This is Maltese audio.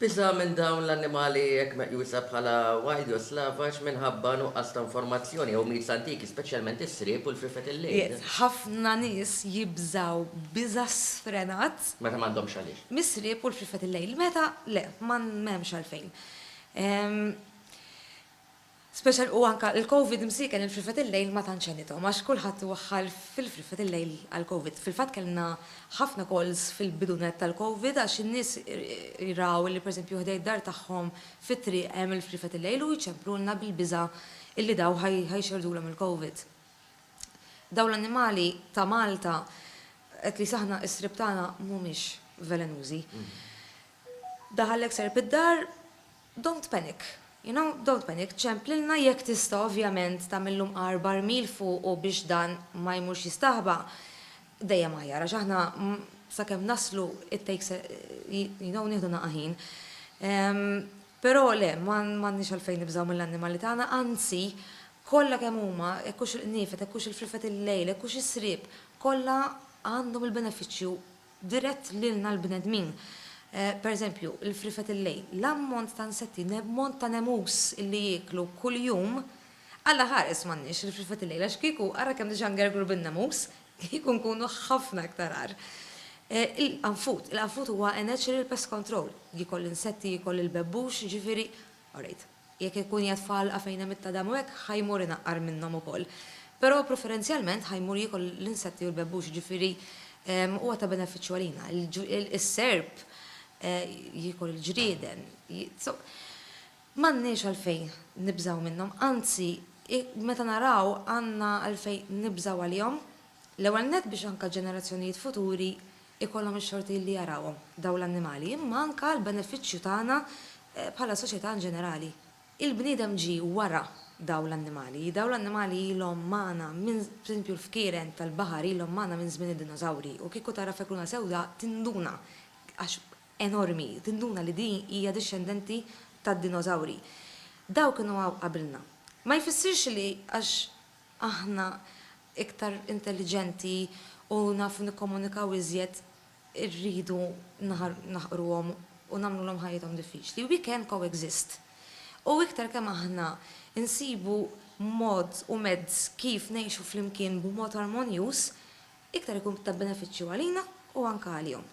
Biża' minn dawn l-annimali hekk meqjusa bħala wild jew slavaġ minħabba nuqqas ta' informazzjoni jew mites antiki, speċjalment is-sriep u l-frifet il-lejl. Ħafna nies jibżgħu biża' sfrenat. Meta m'għandhomx għaliex. Mis-sriep u l-frifet il-lejl. Meta le, m'hemmx għalfejn. Special u anka il-Covid msiekel il-frifet il-lejl ma tantx għenithom għax kulħadd waħħal fil-frifet il-lejl għall-Covid. Fil-fatt kellna ħafna calls fil-bidunet tal-Covid għax in-nies raw li pereżempju ħdejn id-dar tagħhom fit-triq hemm il-frifet il-lejl u jċemprulna bil-biża' illi daw ħa jxerrdulhom il-Covid. Dawn l-annimali ta' Malta, at least aħna is-sriep tagħna mhumiex velenużi. Daħallek serp id-dar, Don't panic. You know, don't panic, ċemplilna jekk tista' ovvjament tagħmillu mqar barmil fuqu biex dan ma jmurx jistaħba, dejjem aħjar għax aħna sakemm naslu it takes a, you know, nieħdu naqa' ħin. Però le, m'għandniex għalfejn nibżgħu mill-annimali tagħna, anzi, kollha kemm huma, hekk hux il-qniefed, hekk hux il-frifet il-lejl, hekk hux is-sriep, kollha għandhom il-benefiċċju dirett lilna l-bnedmin. Pereżempju, il-frifet il-lejl, l-ammont ta' nsetti, l-ammont ta' nemus li jieklu kuljum, Alla ħares m'għandniex il-frifet il-lejl għax kieku ara kemm diġà ngergru bin-nemus, kieku nkunu ħafna iktar agħar. Il-qanfud, il-qanfud huwa a natural pest control, jiekol l-insetti, jiekol il-bebbux, jiġifieri, orejt. Jekk ikun qiegħed f'għalqa fejn hemm it-tadam u hekk, ħa jmur inaqqar minnhom ukoll. Però preferenzjalment ħa jmur jiekol l-insetti u l-bebbux, jiġifieri huwa ta' benefiċċju għalina. Is-serp jiekol il-ġrieden. M'għandniex għalfejn nibżgħu minnhom, anzi meta naraw għandna għalfejn nibżgħu għalihom, l-ewwel nett biex anke ġenerazzjonijiet futuri ikollhom ix-xorti li jarawhom dawn l-annimali, imma anke għall-benefiċċju tagħna bħala soċjetà in ġenerali. Il-bniedem ġie wara dawn l-annimali. Dawn l-annimali ilhom magħna minn, pereżempju l-fkieren tal-baħar ilhom magħna minn żmien id-dinożawri u kieku tara fekluna sewda tinduna, għax enormi, tinduna li din hija dixxendenti tad-dinożawri. Dawn kienu hawn qabilna. Ma jfissirx li għax aħna iktar intelliġenti u nafu nikkomunikaw iżjed irridu naħqruhom u nagħmlulhom ħajjithom diffiċli. We can co-exist. U iktar kemm aħna nsibu mod u mezz kif ngħixu flimkien b'mod armonjuż, iktar ikun ta' benefiċċju għalina u anke għalihom.